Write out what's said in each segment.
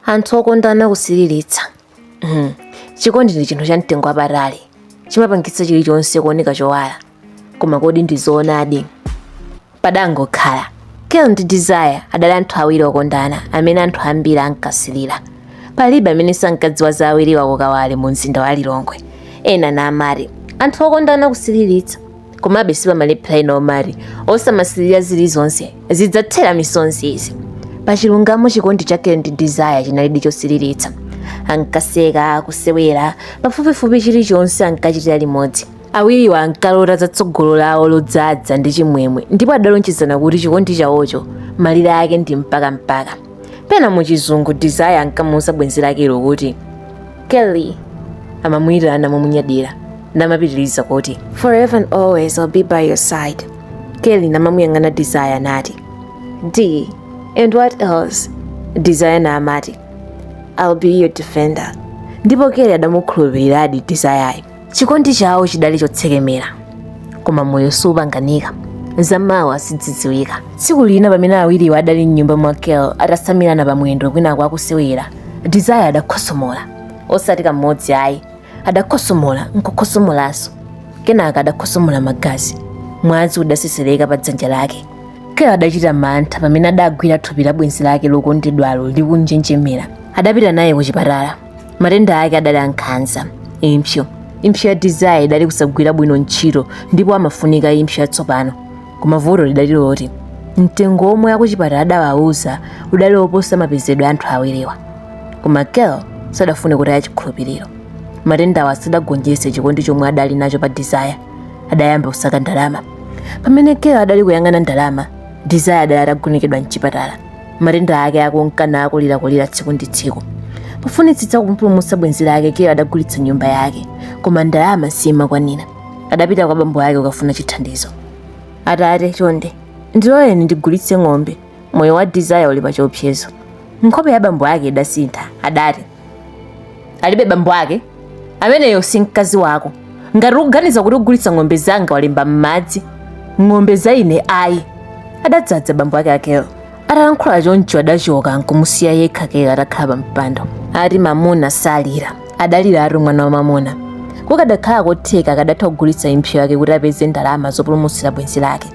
anthu okondana kusiriritsa Mhm. chikondi ndi chinthu cha mtengo wapatali chimapangitsa chilichonse kuoneka chowala koma kodi ndi zoonadi padangokhala kel ndi desire adali anthu awiri okondana amene anthu ambiri ankasirira palibe amene sankadziwa za awiriwa kukawale mu mzinda wa lilongwe ena nkumati anthu okondana kusiriritsa komabe sipamalephera ena omati osamasilira zilizonse zidzathera misonzi izi pa chilungamo chikondi cha kel ndi desire chinalidi chosiliritsa ankaseka kusewera pafupifupi chilichonse ankachitira limodzi awiriwa ankalota za tsogolo lawo lodzadza ndi chimwemwe ndipo adalonjezana kuti chikondi chawocho malire ake ndi mpaka mpaka pena mu chizungu desire ankamuuza bwenzi lakelo kuti Kelly amamuyitana momunyadira namapitiriza kuti forever and always I'll be by your side Kelly namamuyang'ana Desire nati D and what else Desire na amati I'll be your defender ndipo Kelly adamukhulupiriradi Desire chikondi chawo chidali chotsekemera koma moyo sipanganika zamawa sizidziwika tsiku lina pamene awiriwo adali mnyumba mwa kel atasamirana pamwendo kwinako akusewera desire adakhosomola osati kamodzi ayi adakhosomola nkukhosomolanso kenaka adakhosomola magazi mwazi udasesereka pa dzanja lake kel adachita mantha pamene adagwira thupi la bwenzi lake lokondedwalo likunjenjemera adapita naye ku chipatala matenda ake adali ankhanza impsyo impsyo ya desire idali kusagwira bwino ntchito ndipo amafunika impsyo yatsopano koma vuto lidali loti mtengo womwe akuchipatala adawauza udali woposa mapezedwe a anthu awiriwa koma kel sadafune kutaya chikhulupiriro matendawa sadagonjetse chikondi chomwe adali nacho pa desire adayamba kusaka ndalama pamene kel adali kuyang'ana ndalama desire adali atagonekedwa mchipatala matenda ake akunka nakulirakulira tsiku ndi tsiku pofunitsitsa kumpulumutsa bwenzi lake kel adagulitsa nyumba yake koma ndalama simakwanira adapita kwa bambo ake kukafuna chithandizo atate chonde ndiloleni ndigulitse ng'ombe moyo wa desire uli pa chiopsezo nkhope ya bambo ake idasintha adati alibe bambo ake ameneyo si mkazi wako ngati ukuganiza kuti ugulitsa ng'ombe zanga walemba m'madzi ng'ombe za ine ayi adadzadza bambo ake a kel atalankhula choncho adachoka nkumusiya yekha kel atakhala pa mpando ati mamuna salira adaliratu mwana wa mamuna kukadakhala kotheka akadatha kugulitsa impsyo yake kuti apeze ndalama zopulumutsira bwenzi lake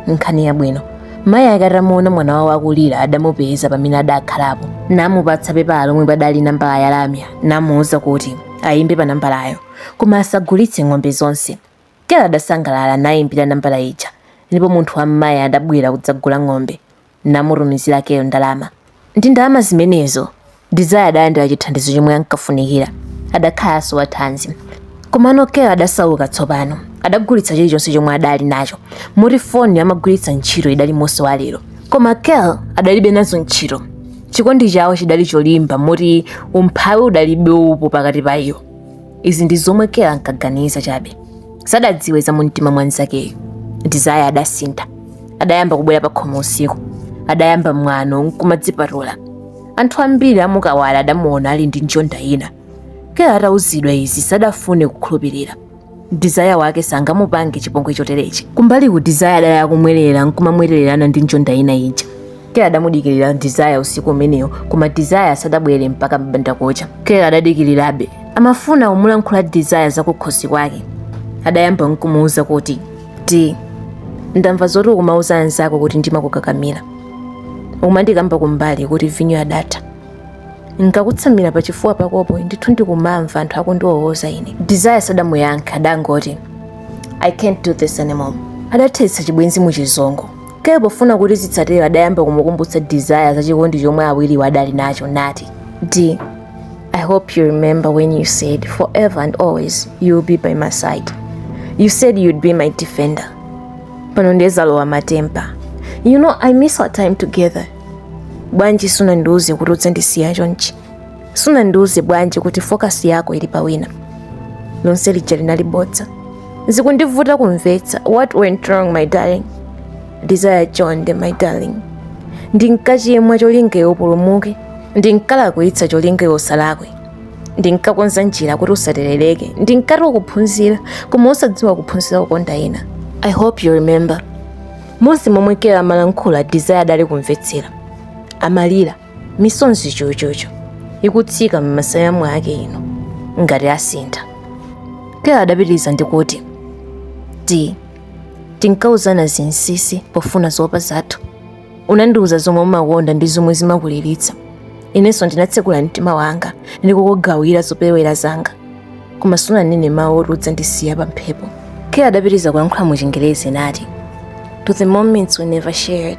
nkhani yabwino mayi ake atamuona mwana wawo akulira adamupeza pamene adakhalapo namupatsa pepala lomwe padali nambala ya lamya namuwuza kuti ayimbe pa nambalayo koma asagulitse ng'ombe zonse kel adasangalala nayimbira nambala ija ndipo munthu wa mmayi adabwera kudzagula ng'ombe namutumizira kel ndalama ndi ndalama zimenezo desire adalandira chithandizo chomwe ankafunikira adakhalanso wathanzi komano kel adasauka tsopano adagulitsa chilichonse chomwe adali nacho moti foni amagwiritsa ntchito idali mose wa lero koma kel adalibe nazo ntchito chikondi chawo chidali cholimba moti umphawi udalibe upo pakati pa iwo izi ndi zomwe kel ankaganiza chabe sadadziwe za mumtima mwa nzakeyo desire adasintha adayamba kubwera pakhomo usiku adayamba mwano nkumadzipatula anthu ambiri a mu kawale adamuona ali ndi njonda ina kel atauzidwa izi sadafune kukhulupirira desire wake sangamupange chipongwe choterechi kumbaliku desire adali akumwerera nkumamwererana ndi njonda ina ija kel adamudikirira desire usiku umeneyo koma desire sadabwere mpaka mbandakucha kel adadikirirabe amafuna kumulankhula desire zakukhosi kwake adayamba nkumuuza kuti d ndamva zoti ukumauza anzako kuti ndimakukakamira ukumandikamba kumbali kuti vinyo adatha nkakutsamira pa chifuwa pakopo ndithu ndikumamva anthu akundiwowoza ine desire sadamuyankha adangoti i can't do this anymore adathetsa chibwenzi mu chizungu Kel pofuna kuti zisatero adayamba kumukumbutsa Desire za chikondi chomwe awiriwa adali nacho nati, D, I hope you remember when you said forever and always you'll be by my side. You said you'd be my defender. Pano nde zalowa matempa. You know I miss our time together. Bwanji sunandiuze kuti udzandisiya chonchi. sunandiuze bwanji kuti focus yako ili pa wina lonse lija linali bodza zikundivuta kumvetsa what went wrong my darling desire chonde my darling ndinkachimwa cholinga iwe upulumuke ndinkalakwitsa cholinga iwe usalakwe ndinkakonza njira kuti usaterereke ndinkati ukuphunzira koma osadziwa ukuphunzira kukonda ena i hope you remember monse momwe kel amalankhula desire adali kumvetsera amalira misonzi chochocho ikutsika m'masaya mwake ino ngati asintha kel adapitiriza ndikuti d tinkauzana zinsinsi pofuna zoopa zathu unandiuza zomwe umakonda ndi zomwe zimakuliritsa inenso ndinatsekula mtima wanga ndikukugawira zopewera zanga koma sunanene mawu oti udzandisiya pa mphepo kel adapitiriza kuyankhula mu chingerezi nati to the moments we never shared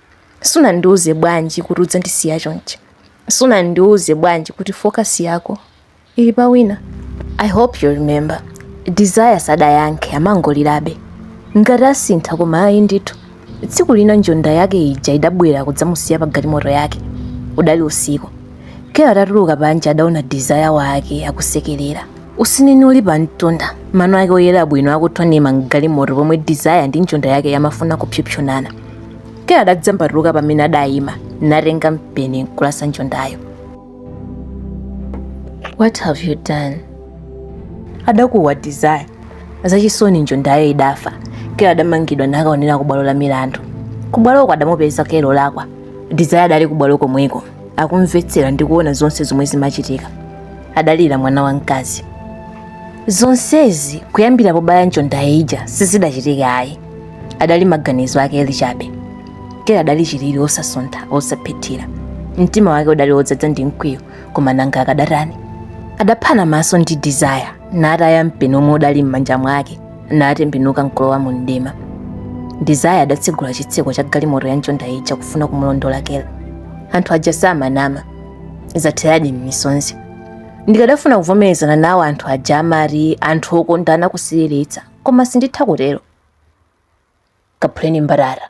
sunandiuze bwanji kuti udzandisiya chonchi sunandiuze bwanji kuti focus yako ili pa wina i hope you remember desire sadayankhe amangolirabe ngati asintha koma ayi ndithu tsiku lina njonda yake ija idabwera kudzamusiya pa galimoto yake udali usiku Kel atatuluka panja adaona desire wake akusekerera. Usinini uli pa mtunda, mano ake oyera bwino akuthwanima mgalimoto pomwe desire ndi njonda yake yamafuna kupsopsonana. Kel adadzambatuluka pamene adayima, natenga mpeni nkulasa njondayo. What have you done? adakuwa desire. Zachisoni njondayo idafa. Kel adamangidwa nakaonera kubwalo la milandu. Kubwaloko adamupeza Kel olakwa. Desire adali kubwalo komweko. akumvetsera ndi kuona zonse zomwe zimachitika adalira mwana wamkazi zonsezi kuyambira pobaya njonda ija sizidachitike ayi adali maganizo a kel chabe kel adali chilili osasuntha osaphethira mtima wake udali wodzadza ndi mkwiyo koma nanga akadatani adaphana maso ndi desire nataya mpeni omwe udali m'manja mwake natembenuka nkulowa mu mdima desire adatsegula chitseko cha galimoto ya njonda ija kufuna kumulondola kel anthu aja samanama zatheradi m'misonzi ndikadafuna kuvomerezana nawo anthu aja amati anthu okondana kusiriritsa koma sinditha kutero kaphuleni mbatata